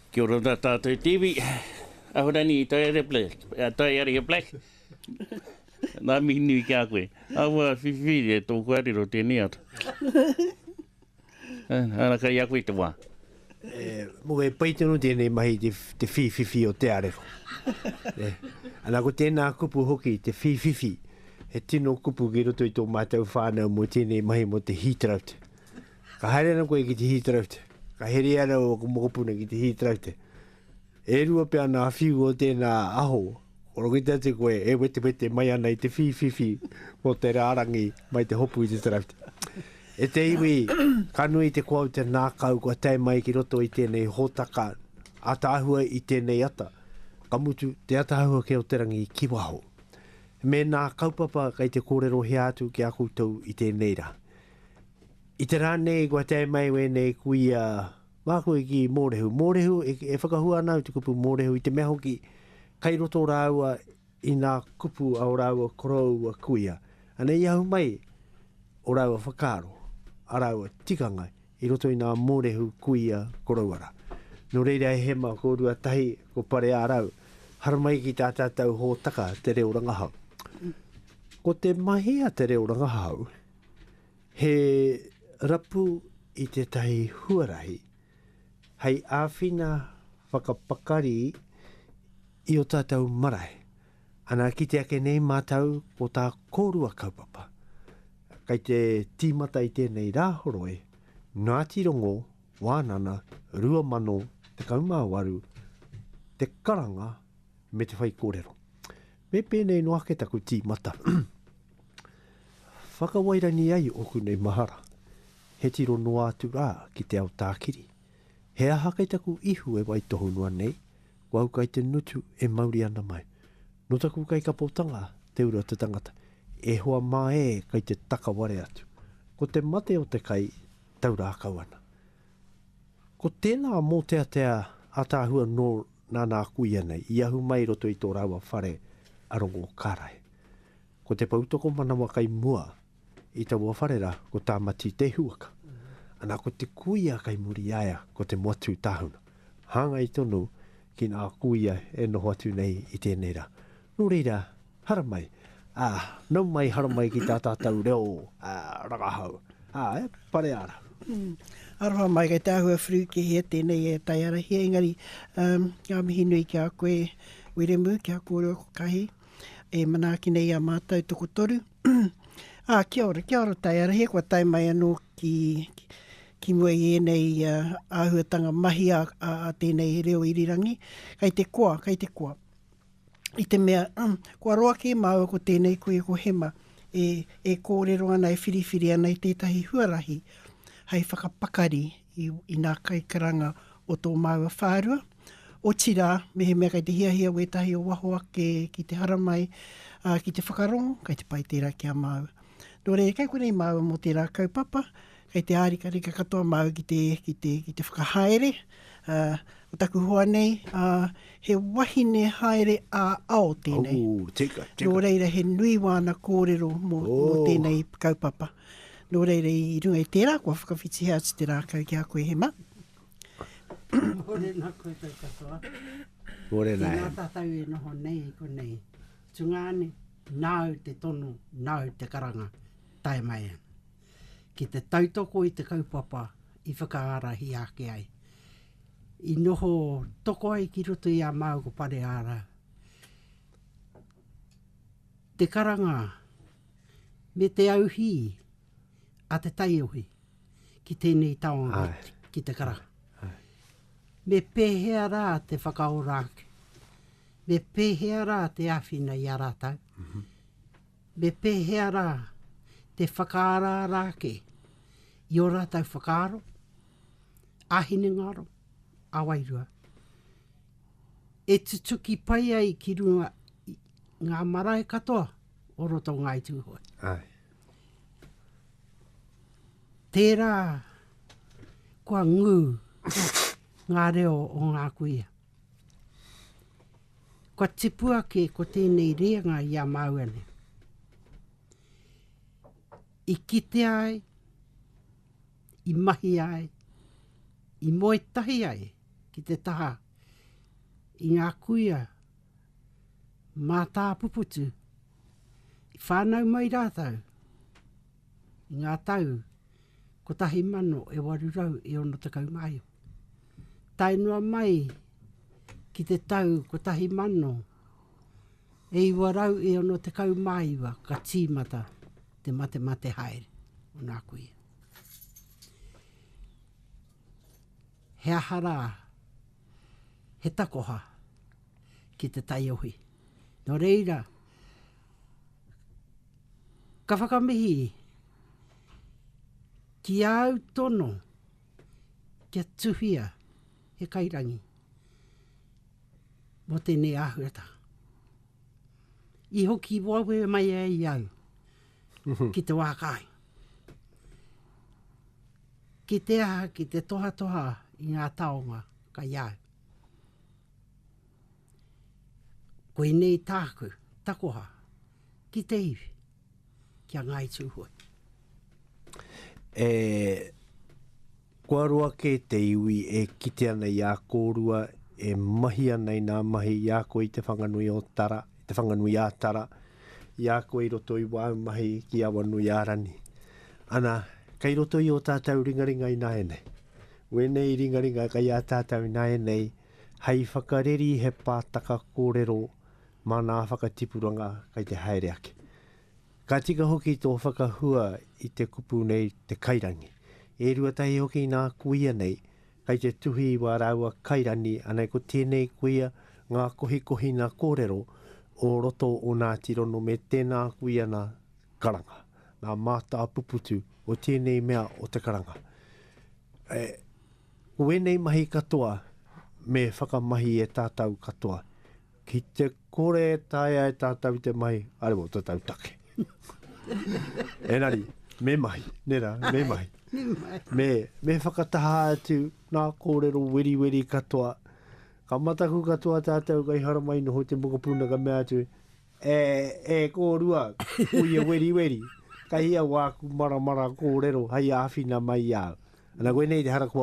Kia ora tā tātou Tiwi. Ahurani, Taiaria Black. Uh, Taiaria Black. Nā mihi nui ki a koe. Awa whiwhiri e tōku arero tēnei atu. Ana kai a koe te wā. E, mo e pai tonu tēnei mahi te, te whiwhiwhi o te arero. e, ana ko tēnā kupu hoki, te whiwhiwhi. He tino kupu ki roto i tō mātou whānau mo tēnei mahi mo te heat drought. Ka haere ana koe ki te hī taraute. Ka heria ana ō mokopuna ki te hī taraute. E rua pea nā whiu o tēnā aho, kua rokita atu koe e wetewete mai ana i te whīwhiwhi mō te rārangi mai te hopu i te taraute. E te iwi, ka nui te koa o te nākau kua tae mai ki roto i tēnei hōtaka ataahua i tēnei ata, ka mutu te ataahua kē o te rangi ki waho. Mēnā kaupapa kei te kōrero hea atu ki a koutou i tēnei rā. I te rā nei kua tae mai wēnei kuia māku i ki Mōrehu. Mōrehu, e, e whakahua ana au te kupu Mōrehu i te mea hoki, kai roto rāua i nā kupu a o rāua koroua kuia. Anei i ahu mai o rāua whakaaro, a rāua tikanga i roto i nā Mōrehu kuia koroua rā. Nō reira e hema ko Ruatahi, ko Pareārau, haramai ki tā tātou hōtaka te reo rangahau. Ko te mahi a te reo rangahau, He rapu i tētahi huarahi hei āwhina whakapakari i ō tātou marae. Ana, kite ake nei mātou ko tā kōrua kaupapa. Kei te tīmata i tēnei Rāhoroi, Ngāti Rongo, Wānana, 2018, te karanga me te whaikōrero. Me pēnei noa ake taku tīmata whakawairangi ai ōku nei mahara, he tiro noa atu rā ki te ao tākiri. He aha kei taku ihu e waitohu noa nei, ko au kai te ngutu e mauri ana mai. Nō taku kaikapotanga te uru o te tangata, e hoa mā ē kei te takaware atu. Ko te mate o te kai tau rākau ana. Ko tēnā mōteatea ātaahua nō Nāna aku ianei i ahu mai i roto i tō rāua whare a Rongokarae. Ko te poutokomanawa kai mua i taua whare rā, ko Tāmati Te Huaka. Ana ko te kuia kai muri i a ia, ko Te Moatū Tāhuna. Hāngai tonu ki ngā kuia e noho atu nei i tēnei rā. Nō reira, Haramai, ā, nau mai haramai ki tā tātou reo, ā, rangahau, ā, e, pareara. Aroha mai kei te āhua whiriwhikihia tēnei e taiarahia engari um, ngā mihi nui ki a koe Wiremu ki a kōrua ko Kahi e manaaki nei a mātou toko toru ā ah, kia ora, kia ora taiarahia kua tai mai anō ki, ki ki mua i ēnei uh, āhuatanga mahi a, a, a tēnei reo irirangi, kei te koa, kei te koa. i te mea, um, kua roa kē māua ko tēnei koe ko Hema, e, e kōrero ana, e whiriwhiri ana i tētahi huarahi hai whakapakari i, i nā kaikaranga o tō māua whārua. Otirā, mehemea kei te hiahia wētahi o waho ake ki te haramai, uh, ki te whakarongo, kei te pai tērā ki a māua. Nō reira, kei konei māua mō tērā kaupapa, Kei te ārikarika katoa māu ki te, ki te, ki te whakahaere. Ko taku hoa nei, he wahine haere ā-ao tēnei. Ooh, tika, tika. Nō reira, he nui wāna kōrero mō, oh. mō tēnei kaupapa. Nō reira, i runga i tērā, kua whakawhitihea atu te rākau ki a koe, Hema. Hore nā koutou katoa. Hore nā. Tēnā tātou e noho nei i konei. Tungāne, nāu te tono, nāu te karanga. Tae mai ana. ki te tautoko i te kaupapa i whakaarahia ake ai, i noho toko ai ki roto i a māu ko Pareāra, te karanga me te auhī a te taiohi ki tēnei taonga, ki te karanga. Me pēhea rā te whakaora ake, me pēhea rā te āwhina i a rātau, Me pēhea rā te whakaaraara ake i ō rātou whakaaro, ā-hinengaro, ā-wairua, e tutuki pai ai ki runga i ngā marae katoa o roto o Ngāi Tūhoe. Aye. Tērā kua ngū ngā reo o ngā kuia. Kua tipu ake ko tēnei rēnga i a māua nei. I kite ai, i mahi ai, i moe tahi ai ki te taha i ngā kuia mātāpuputu i whānau mai rātou i ngā tau 1861. tae noa mai ki te tau 1969 ka tīmata te matemate haere o nā kuia. He aha rā, he takoha ki te taiohi. Nō reira, ka whakamihi ki āu tono, kia tuhia he kairangi mō tēnei āhuatanga. I hoki wawe mai e i au mhm. ki te wākai. Ki te aha, ki te tohatoha i ngā taonga ka iau. Koinei tāku, takoha, ki te iwi. ki a Ngāi Tūhoe. E, kua roa kē te iwi e kite ana i a kōrua, e mahi ana i nā mahi i a koe i Te Whanganui o Tara, Te Whanganui a Tara, i a koe i roto i wāu mahi ki Awanuiārani. Ana, kei roto i o tātou ringaringa i nāianei. Wēnei ringaringa kei a tātou i nāianei, hei whakareri he pātaka kōrero, Māna whakatipuranga kei te haere ake. Ka tika hoki tō whakahua i te kupu nei te kairangi. E rua tahi hoki nā kuia nei, kei te tuhi i wā rāua kairani anei ko tēnei kuia ngā kohikohina kōrero o roto o nā tirono me tēnā kuia nā karanga, nā mātāpuputu o tēnei mea o te karanga. E, ko ēnei mahi katoa me whakamahi e tātau katoa Ki te kore e taea e tātou te mahi, are wō tātou take. Enari, me mahi, ne rā, me mahi. me, me whakataha atu nā kōrero weriweri katoa. Ka mataku katoa tātou kai haramai noho te mokopuna ka mea atu, e, e kōrua, uia weriweri, kai au āku maramara kōrero hai āwhina mai au. Ana koe nei te harakoa.